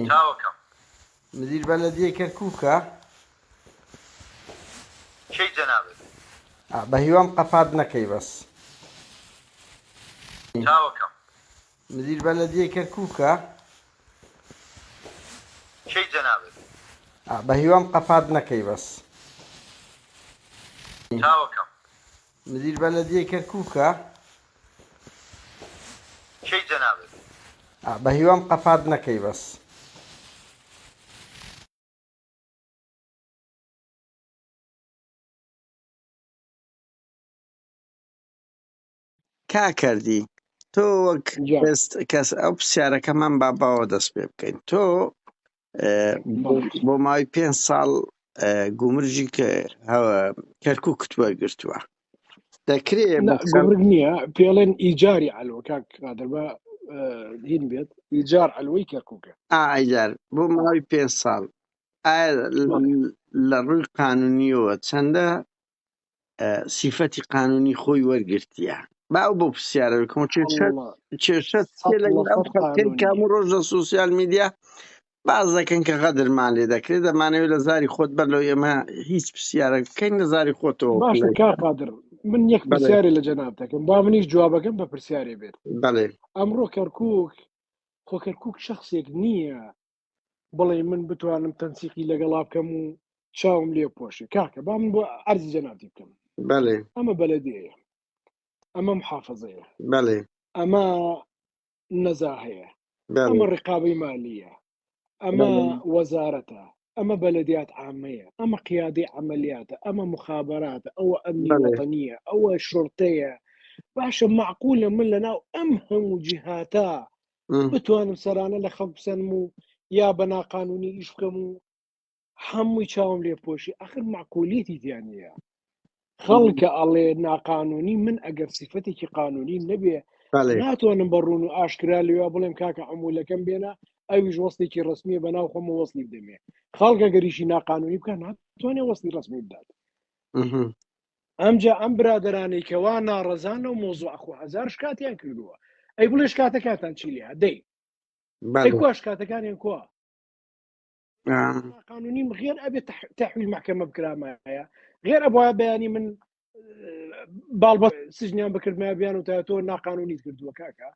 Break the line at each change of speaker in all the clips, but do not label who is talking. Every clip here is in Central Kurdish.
چاوەکەم.
مدیر بەلەدیەی کەرکوکە.
کەی جەنابت. بەهیوام
قەپات نەکەی بەس. چاوەکەم.
مدیر
بەلەدیەی کەرکوکە. کەی
جەنابت. بەهیوام
قەپات نەکەی بەس. چاوەکەم.
مدیر
بەلەدیەی کەرکوکە.
کەی جەنابت؟ بەهیوام
قەپات نەکەی بەس. کاکەردی تۆ وەک کەس ئەو پرسیارەکەمان با باوە دەست پێ بکەین تۆ بۆ ماوەی پێ ساڵ گومرجی کە کەرکک کت وەرگتووە دەکرێت گومرگ نییە
پێڵێن ئیجاری ئەلۆ کاک قادر بە هین بێت ئیجار ئەلوەی کەرککە ئایجار بۆ
ماوەی پێ ساڵ لە ڕووی قانونیەوە چەندە سیفەتی قانونی خۆی وەرگرتیە با ئەو بۆ پرسیارە بکەم کێشە کام و ڕۆژ لە سوسیال میدیا باز دەکەن کە غەدرمان لێ دەکرێت دەمانەوێت لە زاری خۆت بەر لەو ئێمە هیچ پرسیارە بکەین لە زاری خۆتەوە باشە کار قادر
من یەک پرسیارێ لە جەناب دەکەم با منیش جوابەکەم بە پرسیارێ بێت بەڵێ ئەمڕۆ
کەرکک
خۆ کەرکک شخصێک نییە بڵێ من بتوانم تەنسیقی لەگەڵا بکەم و چاوم لێ پۆشی کاکە با من بۆ ئەرزی جەنابی بکەم بەێ ئەمە
بەلەدەیە
ئەمە محافظەیە بەێ
ئەمە
نەزا هەیە ئەمە ڕقابی مالیە ئەمە وەزارەتە ئەمە بەلەدیات ئامەیە ئەمە قیادی ئەعملیاتە ئەمە مخابراتە ئەوە ئەمنیەتەنیە ئەوە شرتەیە باشە معقولە من لە ناو ئەم هەموو جیهاتا بتوانم سەرانە لە خەڵک بسەنم و یا بە ناقانونی ئیش بکەم و هەمووی چاوم لێ پۆشی ئەخر معقولیتی دیانە خەڵکە ئەڵێ ناقانونی من ئەگەر سیفەتێکی قانونی نەبێ ناتوانم بە ڕوون و ئاشکرا لێوا بڵێم کاکە ئەمولەکەم بێنە ئەویش وەستێکی ڕسمیە بە ناو خۆمە وەستی دەمێ خەڵکە گەریشی ناقانونی بکە ناتوانێ وەستی ڕسمی بدات ئەمجا ئەم برادەرانەی کە وا ناڕەزان لەو مەوزوعە خۆ هەزار شکاتیان کردووە ئەی بڵێ شکاتەکانتان چی لێیە دەی ئەی بەڵێ کوا شکاتەکانیان کوا ئا، ئەمە قانونیم غێر ئەبێ تح- تحویل محکمە بکرامایە غێر ئەبواە بەیانی من اه، باڵ بە سجنیان بکردمە بیان و تا تۆ ناقانونیت کردووە کاکە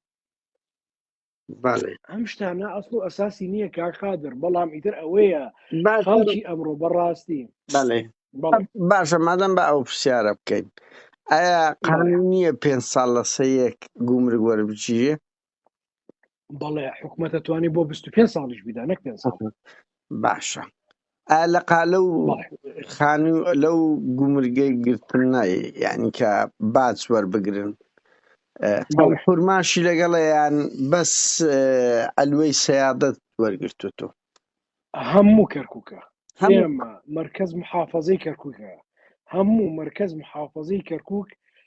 ئەم شتانە ئەسڵ و ئەساسی نییە کاک قادر بەڵام ئیتر ئەوەیە خەڵکی ئەمڕۆ بەڕاستی بەڵێ
باشە مادەم بە ئەو پرسیارە بکەین ئایا قانون نییە پێ ساڵ لە سەیەک گومرگ وەربگیرێ
بەڵێ حکوومەتە توانی بۆ 25 ساڵیش بیدا نەک پێ ساڵ باشە
ئا لە قالە و بەڵێ خانو لەو گومرگەی گرتنە یانی کە باج وەربگرن ئە، ئەم بەڵێ حورماشی لەگەڵە یان بەس ئە، عەلوەی سەیادەت وەرگرتووتۆ
هەموو کەرکووکە هەموو ئێمە مەرکەز محافەزەی کەرکووکە هەموو مەرکەز محافەزەی کەرکووک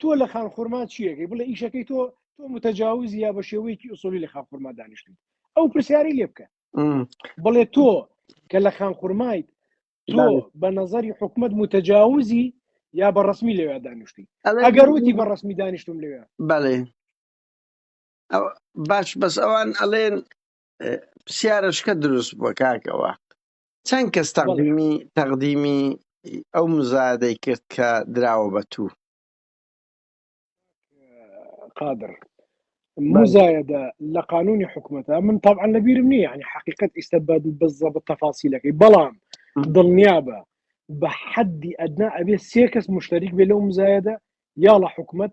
تۆ لە خان خورما چیەکەی بڵێ ئیشەکەی تۆ تۆ متەجاوز یا بە شێوەیەکی ئوسۆلی لە خان خورما دانیشتیت ئەو پرسیاری لێ بکە بڵێ تۆ کە لە خان خورمایت تۆ بە نظری حکومت متەجاوزی یا بە ڕسمی لەوێ دانیشتی ئەگەر وتی بە ڕسمی دانیشتم لەوێ بەڵێ
باش بەس ئەوان ئەڵێن پرسیارەشکە دروست بووە کاکەوە چەند کەس تەقدیمی تەقدیمی ئەو مزادەی کرد کە دراوە بە تو
قادر مزایدە لە قانونی حکوومەتە من طبعا لەبیرم نییە ینی حقیقت ئیستا بە بزە بە تەفاسیلەکەی بەڵام دڵنیا بە بە حەدی ئەدنا ئەبێ سێ کەس مشتەریک بێ لەو مزایدە یا لە حکوومەت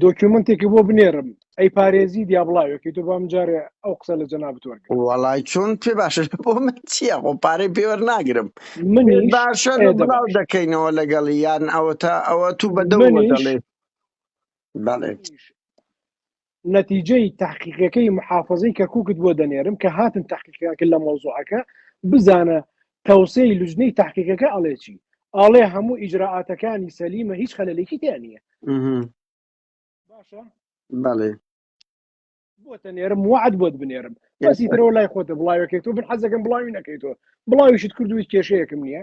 دۆکیومنتێکی بۆ بنێرم ئەی پارێزی دیابڵاوێکی تۆ بام جارێ ئەو قسە لە جەنا بتوەرگ وڵی چۆن پێ
باشە بۆ من چییە خۆ پارەی پێوەەر ناگرم من باشە
بڵاو
دەکەینەوە لەگەڵی یان ئەوە تا ئەوە تو بە دەڵێ بەڵێ
نەتیجەی تەحقیقەکەی محافەزەی کەرکوکت بۆ دەنێرم کە هاتن تەحقیقیان کرد لە مەوزوعەکە بزانە تەوسەی لوجنەی تەحقیقەکە ئەڵێ چی ئاڵێ هەموو ئیجرراعاتەکانی سەلیمە هیچ خەلەلێکی تیا نییە مهم. باشە
بەڵێ
بۆ تەنێرم وعد بۆت بنێرم بەسی ترەوە لای خۆتە بڵاوەکەی تۆ بن حەزەکەم بڵاوی نەکەیتەوە بڵاویشت کردوی کێشەیەکم نییە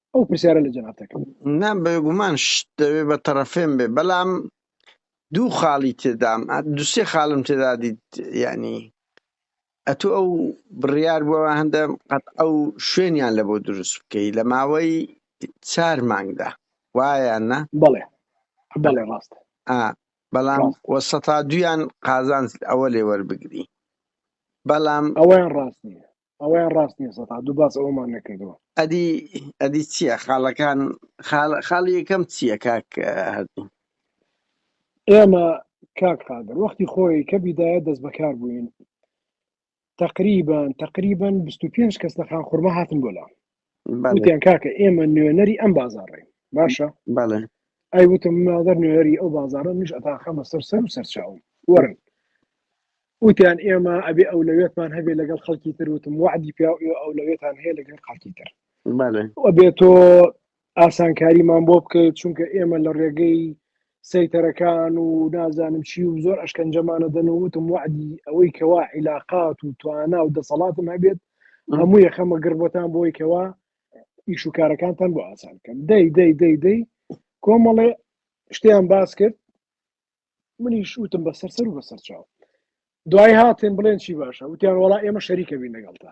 ئەو پرسیارە لە جەنابتەکە نا بێگومان
شت دەوێ بە تەرەفێن بێ بەلام دوو خاڵی تێدام دوسێ خاڵم تێدا دیت ینی ئەتو ئەو بڕیار بووە هەندە قەت ئەو شوێنیان لە بۆ دروست بکەی لە ماوەی چار مانگدا وایان نا بەڵێ
بەڵێ ڕاست بەڵام
وەسەتا دویان قازانج ئەوە لێ وەربگری بەڵام ئەوەیان ڕاست
نیە ئەوەیان ڕاست نییە سەتا دوو باس ئەوەمان نەکردووە ئەدی ئەدی
چییە خاڵەکان خاڵی یەکەم چییە کاک هەردی
ئێمە کاک قادر وەختی خۆی کە بیدایە دەست بەکار بووین تقریبان تقریبان 25 کەس لە خان خورمە هاتن بۆ لام وتیان کاکە ئێمە نوێنەری ئەم بازاڕین باشە
ئەی وتم
مادەر نوێنەری ئەو بازارە منش ئەتاخەمە سەر سەر و سەرچاوم وەرن وتیان ئێمە ئەبێ ئەو لەوێتمان هەبێ لەگەڵ خەڵکی تر وتم وعدی پیا ئەو لەوێتان هەیە لەگەڵ خەڵکی تر بێت تۆ ئاسانکاریمان بۆ بکەیت چونکە ئێمە لە ڕێگەی سەیتەرەکان و نازانم چی و زۆر ئەشکەنجەمان ئەدەن و وتم وەعدی ئەوەی کەوا عیلاقات و توانا و دەسەڵاتم هەبێت هەموو یەخەمە گڕ بۆتان بۆی کەوا ئیش و کارەکانتان بۆ ئاسان بکەم دەی دەی دەی دەی کۆمەڵێ شتیان باس کرد منیش وتم بە سەر سەر و بەسەر چاو دوای هاتن بڵێن چی باشە وتیان وڵا ئێمە شەریکە بین لەگەڵتا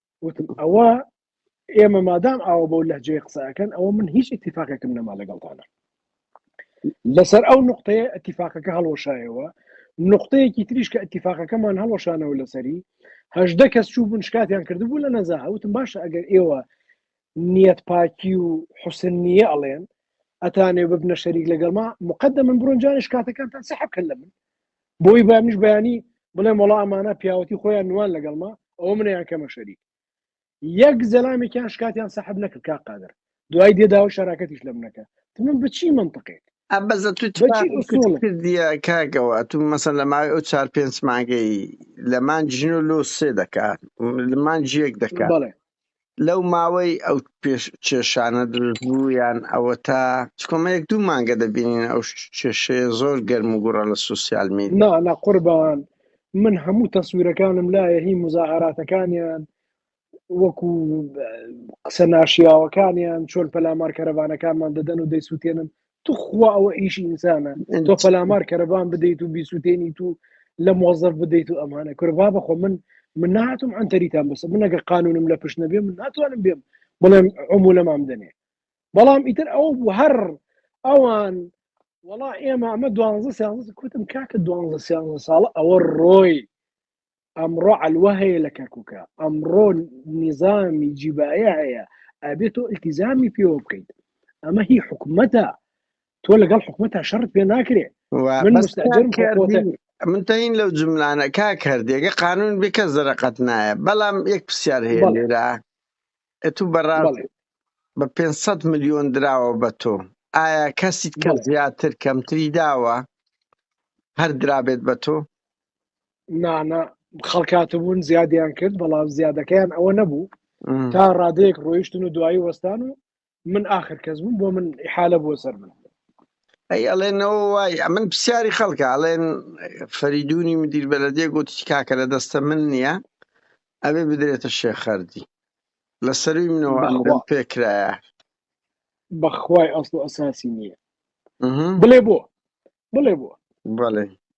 وتم ئەوە ئێمە مادام ئاوە بەو لەجێ قسەکەن ئەوە من هیچ اتفاقێکم نەما لەگەڵتانە لەسەر ئەو نقطەیە اتفاقەکە هەڵۆشایەوە نقطەیەکی تریش کە اتفاقەکەمان هەڵۆشانەوە لەسەری هەشدە کەس چوو بوون شکاتیان کردبوو لە نەزا هەوتم باشە ئەگەر ئێوە نیەت پاکی و حسن نیە ئەڵێن ئەتانێ ببنە شەریک لەگەڵما مقدە من بڕۆنجانش کاتەکانتان سەحب کە لە من بۆی بەمنیش بەیانی بڵێم وەڵا ئەمانە پیاوەتی خۆیان نوان لەگەڵما ئەوە منیان کەمە شەریک یەک زەلامێکیان شکاتیان سەحب نەکرد کا قادر دوای دێداوە شەراکەتیش لە منەکە من بچی منطقێک ئەبەزە تو
کردە کاگەوە تو مەسە لە ماوەی ئەو چار پێنج مانگەی لەمان ژن و لۆ سێ دەکات لەمان جیەک دەکات لەو ماوەی ئەو پێش کێشانە دروست بوو یان ئەوە تا چکۆمە یەک دوو مانگە دەبینین ئەو کێشەیە زۆر گەرم و گوڕە لە سوسیال می نا نا قوربان
من هەموو تەسوورەکانم لایە هی مزاهراتەکانیان وەکو قسە ناشیاوەکانیان چۆن پەلامار کەرەوانەکانمان دەدەن و دەیسووتێنن توخوا ئەوە ئیش ئینسانە تۆ پەلامار کەرەبان بدەیت و بیسووتێنیت و لە مۆزەف بدەیت و ئەمانە کوربا بەخۆ من من ناتم ئەتەریتان بەسە منەگە قانونم لە پشت نەبێ من ناتوانم بێم بڵێم ئەمو لەمام دەنێ بەڵام ئیتر ئەو بوو هەر ئەوان وڵا ئێمە ئەمە دوانزە سیانزە کوتم کاکە دوانزە سیانزە ساڵە ئەوە ڕۆی ئەمڕۆ عەلوە هەیە لە کەرکوکە ئەمڕۆ نیزامی جیبایە هەیە ئەبێت تۆ التیزامی پێوە بکەیت ئەمە هی حکومەتە تۆ لەگەڵ حکومەتە شەرت پێ ناکرێ من
تەین لەو جملانە کا کردێگە قانون بکە زەرقەت نایە بەڵام یەک پرسیار هەیە لێرا ئەتو بەڕاڵ بە 500 میلیۆن دراوە بە تۆ ئایا کەسیت کە زیاتر کەمتری داوە هەر درابێت بە تۆ نانە
خەڵکاتبوون زیادیان کرد بەڵام زیادەکەیان ئەوە نەبوو تا ڕادەیەک ڕۆیشتن و دوایی وەستان و من آخر کەس بووم بۆ من حالە بۆ سەر من ئەی
ئەڵێنەوە وای ئەمن پرسیاری خەڵکە ئەڵێن فەریدونی مدیر بەلەدێ گوتی کاکە لە دەستە من نییە ئەبێ بدرێتە شێخەردی لە سەروی منەوە پێکرایە
بەخوای ئەسڵ ئەساسی نییە بڵێ بۆ بڵێ بۆ
بڵێ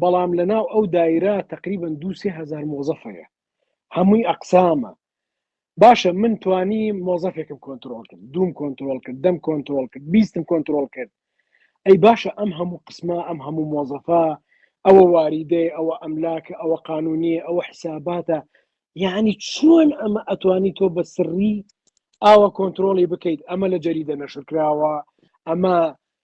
بەڵام لەناو ئەو دایرە تقریبن دوو سێ هزار مۆزەف هەیە هەمووی ئەقسامە باشە من توانی مۆزەفێکم کۆنتترۆل کرد دوم کۆنتترۆل کرد دەم کۆنتترۆل کرد بیستم کۆنتترۆل کرد ئەی باشە ئەم هەموو قسمە ئەم هەموو مۆزەفە ئەوە واریدەی ئەوە ئەملاکە ئەوە قانونیە ئەوە حیساباتە یعنی چۆن ئەمە ئەتوانی تۆ بە سڕی ئاوە کۆنتترۆلی بکەیت ئەمە لە جەریدە نەشرکراوە ئەمە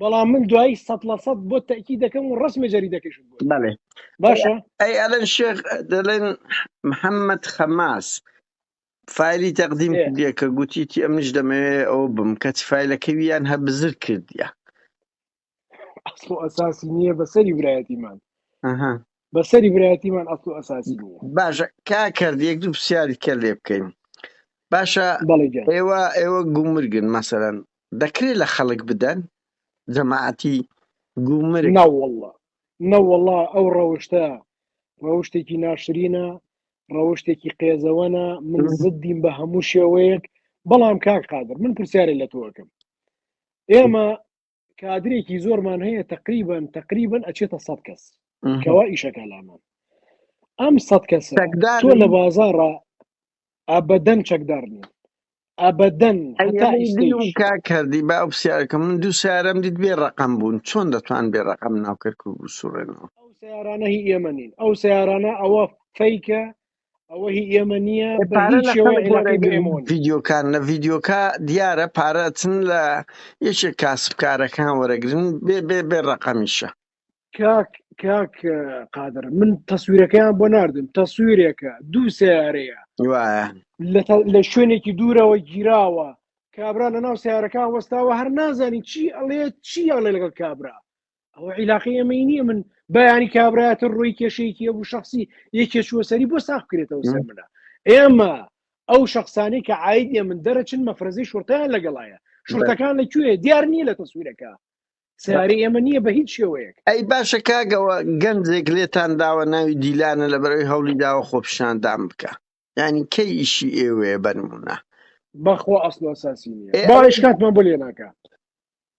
بەڵام من دوایی سە لە سە بۆ تاکی دەکەم و ڕسمە جەری دەکەش باشە ئەی ئەلەن شێخ
دەڵێن محەممەد خەماس فایلی تەقدیم کردە کە گوتیتی ئەمنیش دەمەوێ ئەو بم کەچ فیلەکەویان هە بزر کردە
ئەسڵ ئەساسی نییە بەسەری برایەتیمان بەسەری برایەتیمان ئەسڵ و ئەساسی نییە باشە کا کرد
یەک دوو پرسیاری کە لێ بکەین باشە بەڵێ گیان ئێوە ئێوە گومرگن مەسەرەن دەکرێت لە خەڵک بدەن جەماعەتی گومرگ ناوەڵە
نەوەڵا ئەو ڕەوشتە ڕەوشتێکی ناشرینە ڕەوشتێکی قێزەوەنە من زدیم بە هەموو شێوەیەک بەڵام کاک قادر من پرسیارە لە تۆکەم ئێمە کادرێکی زۆرمان هەیە تقریبن تقریبن ئەچێتە سەد کەس کەوا ئیشەکە لامان ئەم سەد کەس تۆ لە بازارڕە ئابدەن چەکدار نیە ئابدەن
کردی با پرسیارەکە من دوو سارم دیت بێ ڕقم بوون چۆن دەتوان بێ ڕقم ناوکرد و سوڕێنەوە ئەو سیارانە
هی ئێمە نین ئەو سیارانە ئەوە فیکە ئەوە هی ئێمە نییە بە پارە هیچ لە شێوەیە خەڵک عێلاقەی بە ئێمەوە وەرەگرن نییە
ڤیدیۆکان لە ڤیدیۆکە دیارە پارە چن لە یەکێک کاسبکارەکان وەرەگرن بێ بێ بێ ڕەقەمیشە کاک
کاک اه، قادر من تەسویرەکەیان بۆ ناردم تەسویرێکە دوو سیارەیە وایە
لە تە- لە
شوێنێکی دوورەوە گیراوە کابرا لە ناو سیارەکان وەستاوە هەر نازانی چی ئەڵێ چی ئەڵێ لەگەڵ کابرا ئەوە عیلاقی ئەمەی نییە من بەیانی کابراەتە ڕووی کێشەیەکی ئەو شخصی یەکێ چوەسەری بۆ ساخ کرێتەوە سەر منە ئێمە ئەو شخصانی کە عیت ئێ من دەرەچن مەفرەزی شورتیان لەگەڵایە شورتەکان لە کوێ دیار نییە لە تەسویرەکە سیاری ئێمە نییە بە هیچ شێوەیەک ئەی باشە کاگەوە
گەنجێک لێتان داوە ناوی دیلانە لە بەرەوەی هەولی داوە خۆپشاندان بکە یعنی کەی ئیشی ئێوەیە بەنمونە بەخوا
ئەسڵ ئەساسی نیە باش کاتمان بۆ لێ ناکە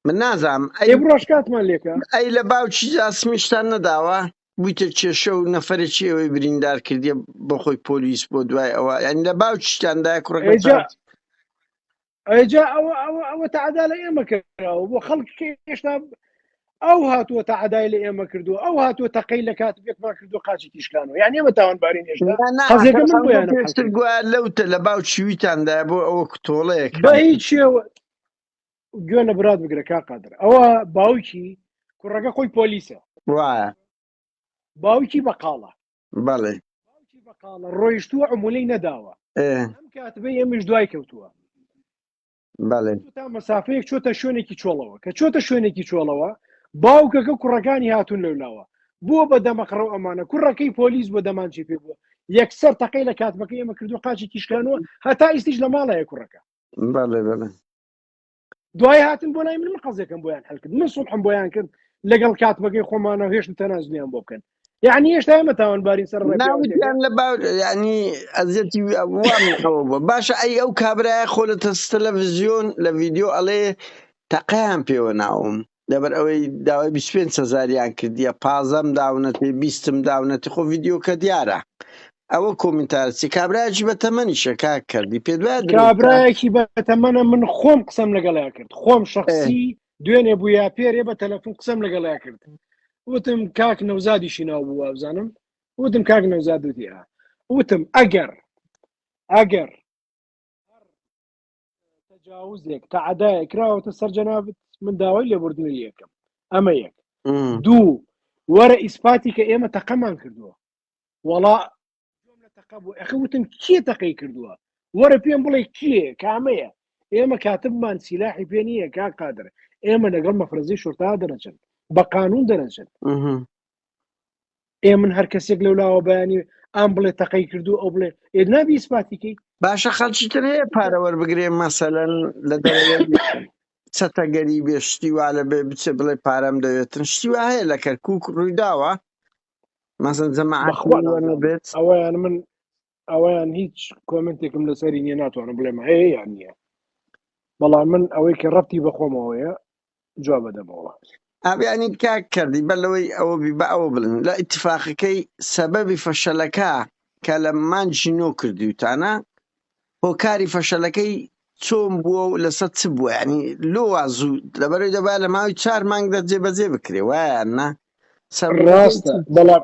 من
نازام ئەی بڕۆژ کاتمان لێکە
ئەی لە باوکی
جاسمیشتان نەداوە بوویتە کێشە و نەفرە چێوەی بریندار کردی بەخۆی پۆلیس بۆ دوای ئەوە یعنی لە باوکیشتاندا کوڕەکە
ئەجا ئەوە ئەوە ئەوە تەعدا لە ئێمە کراوە بۆ خەڵک هێشتا ئەو هاتووە تا عدای لە ئێمە کردو ئەو هاتووە تەقەی لە کات بێکمان کردو قاچی تیشکانەوە یان ئێمە تاوانبارین
هێشتاێشتر
گویا
لەوتە لە باو چویتاندا
بۆ
ئەوە کتۆڵەیەک
هیچەوە گوێ لە برات بگرە کا قادر ئەوە باوکی کوڕەکە خۆی پۆلیسە وایە باوکی بەقاڵە بەڵێ
باوکی بەقاڵە
ڕۆیشتووە عمولەی نەداوە ئێ ئەم کاتبەی ئێمەش دوای کەوتووە
بەڵێ تو تا مەسافەیەک
چۆتە شوێنێکی چۆڵەوە کە چۆتە شوێنێکی چۆڵەوە باوکەکە کوڕەکانی هاتون لەولاوە بووە بە دەمەقڕە و ئەمانە کوڕەکەی پۆلیس بۆ دەمانچی پێ بووە یەکسەر تەقەی لە کاتبەکە ئێمە کردو قاچی تیشکانوە هەتا ئیستیش لە ماڵەیە کوڕەکە بەڵێ بەڵێ دوای هاتن بۆ لای من من قەزێکم بۆیان هەلکرد من سوڵحم بۆیان کرد لەگەڵ کاتمەگەی خۆمانە هێشتم تەنازلیان بۆ بکەن یعنی هێشتا ئێمە تاوانبارین سەر ناوتیان لە باو
ینی ئەزیەتی وامەوە بووە باشە ئەی ئەو کابراای خۆ لە تەس تەلەڤزیۆن لە ڤیددیو ئەڵێ تەقیان پێوە ناوم لەبەر ئەوەی داوای بیست پێنج هەزاریان کردیە پازەم داونەتێ بیستم داونەتی خۆ ڤیدیۆکە دیارە ئەوە کۆمنتارسی کابراجی بە تەمەنیشە کا کردی پێ دوای کابراایەکی بە
تەمەە من خۆم قسەم لەگەڵیا کرد خۆم شخصی دوێنێ بوو یا پێرێ بە تەلەفون قسەم لەگەڵیا کرد وتم کاک نەوزادیشی ناو بوو وابزانم وتم کاک نەوزاد وتیە وتم ئەگەر ئەگەر تجاوزێک تەعدایە کراوەتە سەر جەنابت من داوای لێبوردنی لەکەم ئەمە یەک دوو وەرە ئیسپاتی کە ئێمە تەقەمان کردووە وەڵا تەقە بوو ئەخ وتم کێ تەقەی کردووە وەرە پێم بڵێ کێ کامەیە ئێمە کاتبمان سیلاحی پێ نییە کا قادر ئێمە لەگەڵ مەفرەزی شورتا دەرەچن بە قانون دەرەچن ئێ من هەر کەسێک لەو لاوە بەیانی ئام بڵێ تەقەی کردو ئەو بڵێ ئێ نابی ئیسپاتیکەی باشە خەڵکی تر
هەیە پارە وەربگرێ مەسەلەن لە دەوێت چەتەگەری بێ شتی وا لە بێ بچێ بڵێ پارەم دەوێتن شتی وا هەیە لە کەرکک ڕوویداوە مەسەن جەماعەت بەخوا وەرە نازانم بێت ئەوەیان من
ئەویان هیچ کۆمنتێکم لەسەری نیە ناتوانم بڵێم هەیە یان نییە بەڵام من ئەوەی کە ڕەتی بەخۆمەوەیە جواب بەدەمەوە ئابیانی کا
کردی بە لەوەی ئەوە بی بە ئەوە بڵن لە ئیتفاقەکەی سەبەبی فەشەلەکە کە لە مانجی نۆ کردیوتانە هۆکاری فەشەلەکەی چۆن بووە و لەسەر چ بووە ینی لۆ وازوو لەبەرەوەی دەبا لە ماوەی چار مانگ دەجێ بەجێ بکرێ وایە نا سەر ڕاستە
بەڵام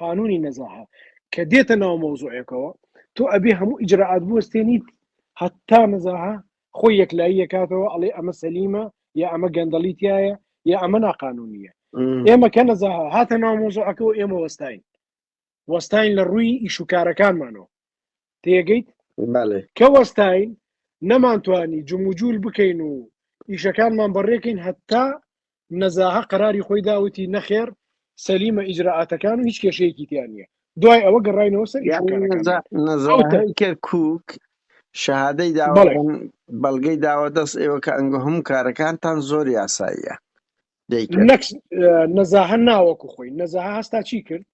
قانونی نەزاهە کە دێتە ناو مەوزوعێکەوە تۆ ئەبێ هەموو ئیجرراعات بوەستێنیت هەتا نەزاهە خۆی یەکلایی یەکاتەوە ئەڵێ ئەمە سەلیمە یا ئەمە گەندەڵی تایە یا ئەمە ناقانونیە ئێمە کە نەزاهە هاتە ناو مۆزۆعەکەەوە ئێمە وەستین وەستین لە ڕووی ئیشوکارەکانمانەوە تێگەیت کە وەستاین نەمانتوانی جموجول بکەین و ئیشەکانمان بەڕێکەین هەتا نەزاهە قەراری خۆی داوتی نەخێر سەلیمە ئیجرراعاتەکان و هیچ کێشەیەکی تیان نیە دوای ئەوە گەڕینەوە سەر
کوک شەهادەی دا بەڵگەی داوە دەست ئێوە کە ئەنگۆ هەموو کارەکانتان زۆر یاساییە
نەزاهە ناوەکو خۆی نەزاهە هەستا چی کرد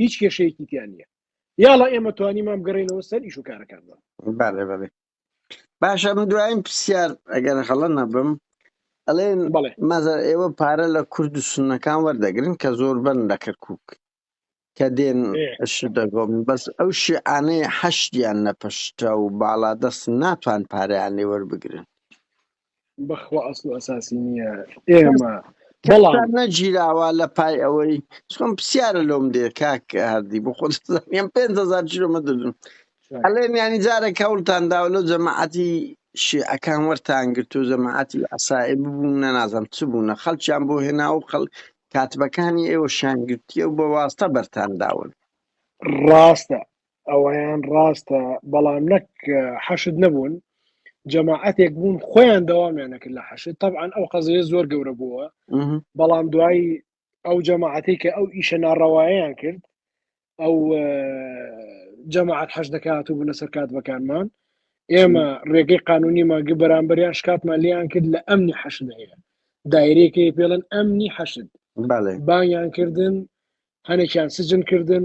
هیچ کێشەیەکی تیا نییە یاڵە ئێمە توانی مام گەڕێنەوە سەر ئیش و کارەکانمان بەڵێ بەڵێ
باشە من دوایم پرسیار ئەگەر هەڵە نەبم ئەڵێن بەڵێ مەزە ئێوە پارە لە کورد و سنەکان وەردەگرن کە زۆر بن لە کەرکک کە دێن دەگۆم بەس ئەو شیعانەی حەشتیان نەپشتە و باڵادەست ناتوان پاریان لێ وەربگرن
بەخوا ئەسڵ و ئەساسی نییە ئێمە بەڵام
نەگیراوە لە پای ئەوەی چۆن پرسیارە لۆم دێ کاک هەردی بۆ خۆ پێم پێ هزار چیرۆمە دەدون ئەلێن ینی جارێک هەوڵتان داوە لەو جەماعەتی شیعەکان وەرتان گرت و جەماعەتی ئەسایی ببوون نەنازم چ بوونە خەڵکیان بۆ هێنا و خەڵ کاتبەکانی ئێوە شانگرتیە و بە واستە بەرتان داون ڕاستە
ئەوەیان ڕاستە بەڵام نەک حەشد نەبوون جەماعەتێک بوون خۆیان دەوامیان نەکرد لە حەشد طبعاان ئەو قەزەیە زۆر گەورە بووە بەڵام دوایی ئەو جەماعەتی کە ئەو ئیشە ناڕەوایان کرد ئەو جەماعات حەش دەکات و بوونە سەرکات بەکانمان ئێمە ڕێگەی قانونی ماگە بەرامبەریان شکاتمان لیان کرد لە ئەمنی حەشد هەیە دایرێکی پێڵن ئەمنی حەشد بانیان کردن هەنێکیان سجن کردن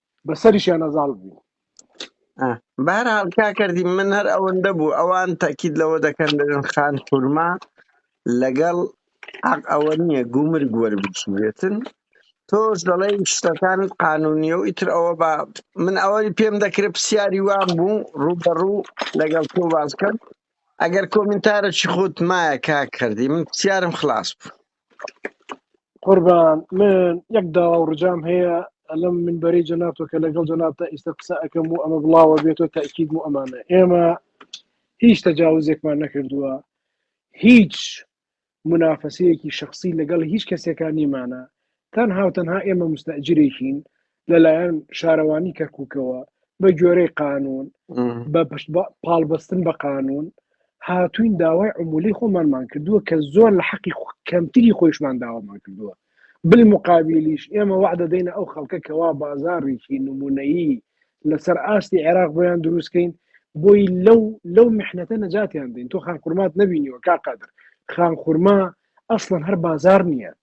بەسەریشیان ئەزاڵ بوو ئا،
بەهەرحاڵ کاکەردی من هەر ئەوەندە بوو ئەوان تاکید لەوە دەکەن دەبێن خان خورما لەگەڵ عەق ئەوە نییە گومرگ وەربگیرێتن تۆش دەڵێی شتەکانت قانونیە و ئیتر ئەوە با من ئەوەی پێم دەکرێت پرسیاری وام بوو ڕوبەڕوو لەگەڵ تۆ باز بکەم ئەگەر کۆمنتارەکی خۆت مایە کاکەردی من پرسیارم خلاص بوو قوربان
من یەک داوا و ڕجام هەیە لەم من بەری جەناتۆ کە لەگەڵ جەنات تا ئیستا قسە ئەەکەم و ئەمە بڵاوە بێتۆ تاکیید و ئەمانە ئێمە هیچ تەجاوزێکمان نەکردووە هیچ منافەسەیەکی شخصی لەگەڵ هیچ کەسێکان نیمانە تەنها و تەنها ئێمە مستەجرێکین لەلایەن شارەوانی کەرککەوە بە گوێرەی قانون بە پشت پاڵبەستن بە قانون هاتوین داوای عمولی خۆمانمان کردووە کە زۆر لە حەقی کەمتری خۆشمان داوامان کردووە بل مقابلیش ئێمە وەع دەدەینە ئەو خەڵکە کەوا بازاڕێکی نمونەیی لەسەر ئاستی عێراق بۆیان دروستکەین بۆی لەو لەو محنەتە نەجاتیان دەین تۆ خان قورمات نبینیوە کا قادر خان خورما ئەسڵەن هەر بازار نییە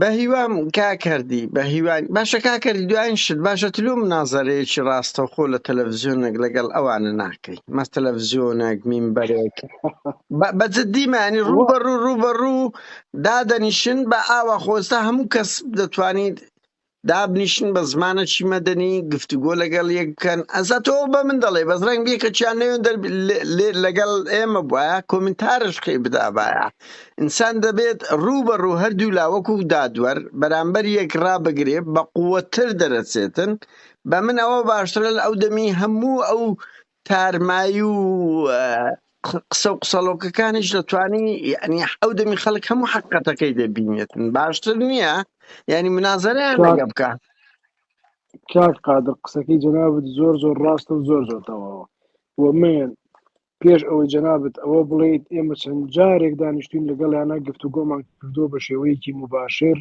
بەهیوام
کاک هەردی بەهیوام باشە کاک هەردی دوایین شت باشە تلوو منازەرەیەکی ڕاستەوخۆ لە تەلەڤزیۆنێک لەگەڵ ئەوانە ناکەی مەس تەلەڤزیۆنێک مینبەرێک بە- بە جدی معنی رو وا بە رو رو بە رو دادەنیشن بە ئاوا خۆستا هەموو کەس دەتوانیت دابنیشن بە زمانەکی مەدەنی گفتوگۆ لەگەڵ یەک بکەن ئەزا تۆ بە من دەڵێ بەس ڕەنگ بێکەچیان نەوێن دەر لەگەڵ ئێمە بواە کۆمنتارش خی بدابایە ئینسان دەبێت ڕوو بە ڕوو هەردوو لاوەکو دادوەر بەرامبەر یەک ڕابگرێ بە قووەتر دەرەچێتن بە من ئەوە باشترە لە ئەو دەمی هەموو ئەو تارمایی و قسە و قسەڵۆکەکانیش دەتوانی یعنی ئەو دەمی خەڵک هەموو حقەتەکەی دەبینێتن باشتر نییە یعنی منازەریان لەگە بکە
کاک قادر قسەکەی جەنابەت زۆر زۆر ڕاستە و زۆر زۆر تەواوە و من پێش ئەوەی جەنابەت ئەوە بڵێیت ئێمە چەند جارێک دانیشتین لەگەڵیانە گفتوگۆمان کردووە بە شێوەیەکی مباشر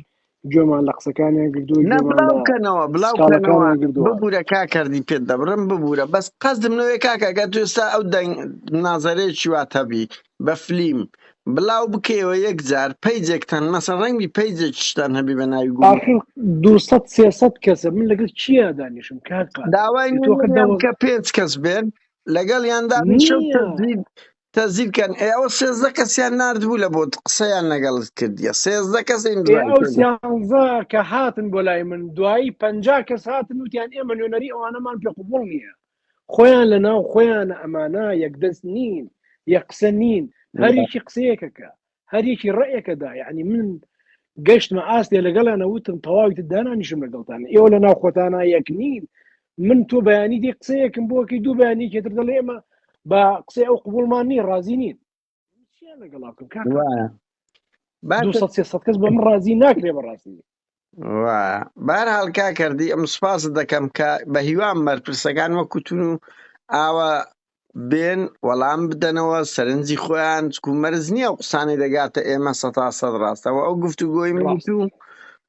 گوێمان لە قسەکانیان گردووە نا گوێمان بلاو لە کەنەوە بلاو
کەنەوە سکاڵەکانیان گردووە ببورە کاکەردی پێت دەبڕم ببورە بەس قەزدم لەوەیە کاکە گەر تو ئستا ئەو دەنگ منازەرەیەکی وات هەبی بە فلیم بلاو بکەیەوە یەک جار پەیجێکتان مەسە ڕەنگبی پەیجێکیشتان هەبی بە ناوی گوڵ ئاخر دوو سەد سێ
سەد کەسە من لەگەڵ کیا دانیشم کاک قادر داوای بێ تۆ
خە نوێنەریان دەوەز بکە پێنج کەس بێن لەگەڵ یاندا شەو نییە تەزویر تەزیل کەن ئێ ئەوە سێزدە کەسیان ناردبوو لە بۆت قسەیان لەگەڵت کردیە سێزدە کەس ئێ ئیمزای ئەو پێدا سیانزا
کە هاتن بۆ لای من دوایی پەنجا کەس هاتن وتیان ئێمە نوێنەری ئەوانەمان پێ قبوڵ نییە خۆیان لە ناو خۆیانە ئەمانە یەکدەست نین یەک قسە نین هەر یەکی قسەیەکەکە هەریەکی ڕێکە دا یعنی من گەشتمە ئاستێ لەگەڵیانە وتم تەواوی دانانیشم لەگەڵتان ئێوە لە ناوخۆتانە یەک نین من تۆ بەیانی دی قسەیەکم بۆکەی دوو بەیانی کێتر دەڵێ ئێمە بە قسەی ئەو قوبولمان نیە ڕازی نین لەگەڵاکەم کاکە کەس بە من ڕازی ناکرێ بەڕاستی
بەهەرحاڵ کاکە ئەم سوپاست دەکەم کە بە هیوام بەرپرسەکان وەکو تون و ئاوە بێن وەڵام بدەنەوە سەرنجی خۆیان چکو مەرز نییە ئەو قسانەی دەگاتە ئێمە سە تا سەد ڕاستەوە ئەو گفتوگۆی من و تو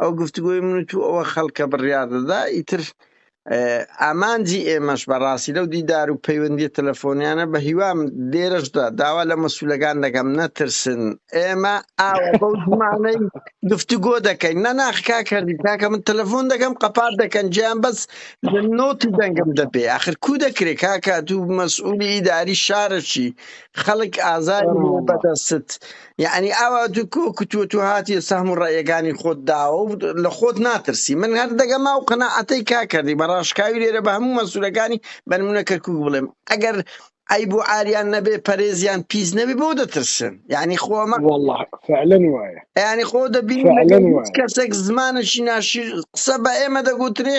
ئەو گفتوگۆی من و تو ئەوە خەڵکە بڕیار دەدا ئیتر ئامانجی ئێمەش بە ڕاستی لەو دیدار و پەیوەندی تەلەفۆنیانە بە هیوام لێرەشدا داوا لە مەسوولەکان دەکەم نەترسن ئێمە ئاوە بەو زمانەی گفتوگۆ دەکەین نەناخ کا کردی کاکە من تەلەفۆن دەکەم قەپات دەکەن جیان بەس لە نۆتی دەنگم دەبێ آخر کو دەکرێ کاکە دوو مەسئولی ئیداری شارەچی خەڵک ئازاری بەدەستت یەعنی ئاوا تو کۆ کتووە تو هاتیە سەهم و ڕەئیەکانی خۆت داوە و لە خۆت ناترسی من هەر دەگەمە ئەو قەناعەتەی کا کەردی بە ڕاشکاوی لێرە بە هەموو مەسولەکانی بە نمونە کەرکوک بڵێم ئەگەر عەیب و عاریان نەبێ پەرێزیان پیس نەبێ بۆ دەترسن یەعنی خۆ ئەمە وەڵا فعلا
وایە یەعنی خۆ دەبینی
فعلا لەگەڵ هیچ وایە کەسێک زمانێکی ناشرین قسە بە ئێمە دەگوترێ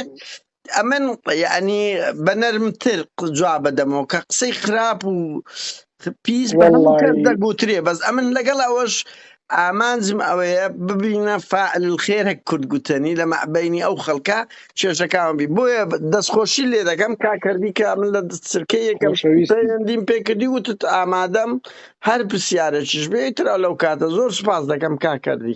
ئەمن یانی بەنەرمتر جواب بدەمەوە کە قسەی خراپ و پیس بە هەموو کەس دەگوترێ بەس ئەمن
لەگەڵ
ئەوەش ئامانجم ئەوەیە ببینە فعل خێر هەک کورد گوتنی لە مەعبینی ئەو خەڵکە کێشەکان بی بۆیە دەستخۆشی لێ دەکەم کاکردی کە من لە سرکە یەکەمدیم
پێکردی
وتت ئامادەم هەر پرسیارەکیش بێترا لەو کاتە زۆر سپاس دەکەم کاکردی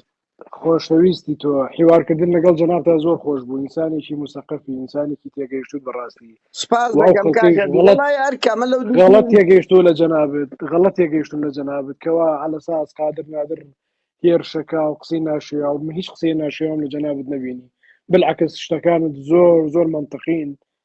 خۆشەویستی
تۆ حیوارکردن لەگەڵ جەنابتا زۆر خۆش بوو ئینسانێکی موسەقەفی ئینسانێکی تێگەیشتوود بەڕاستی سپاس واو دەکەم خەڵکەیش
کاکە
غەڵەت دیوەڵای ئەرکە
من لەو
دوو
غەڵەت تیمە تێگەیشتوو لە
جەنابت غەڵەت تێگەیشتوون لە جەنابت کەوا عەلە ساس قادر نادر هێرشەکە و قسەی ناشیاو من هیچ قسەی ناشیاوم لە جەنابت نەبینی بالعکس شتەکانت زۆر زۆر مەنتقین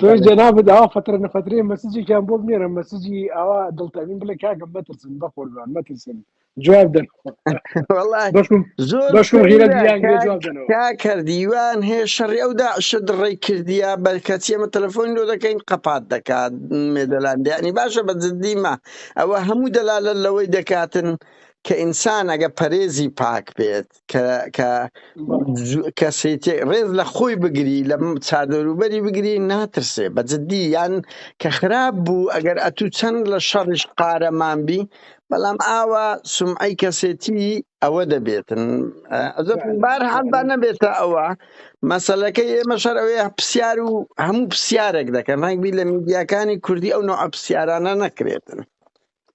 تۆی
جەنابت ئاوا فترە نەفترێ مەسجێکیان بۆ بنێرە مەسجی ئاوا دڵتەمین بڵێ کاکە مەترسن بە قوربان مەترسن جواب دەن کاکەر دیوان
هەیە شەڕی ئەو داعشە دڕی کردیا بەرکەچی ئەمە تەلەفۆن لۆ دەکەین قەپات دەکات مێدەلاندیانی باشە بە جدیمە ئەوە هەموو دەلالە لەوەی دەکاتن کە ئینسان ئەگە پەرێزی پاک بێت کە کەسێتی ڕێز لە خۆی بگری لە چادەروبەری بگری ناترسێ بە جددی یان کە خراپ بوو ئەگەر ئەتوو چەند لە شەڕش قارەمان بی بەڵام ئاوا سمعی کەسێتی ئەوە دەبێتن بار حەبا نەبێتە ئەوە مەسلەکە ئێمە شەرەوەی پرسیار و هەموو پرسیارێک دەکەن ڕنگبی لە میدیاکانی کوردی ئەو نوع پرسیارانە نەکرێتن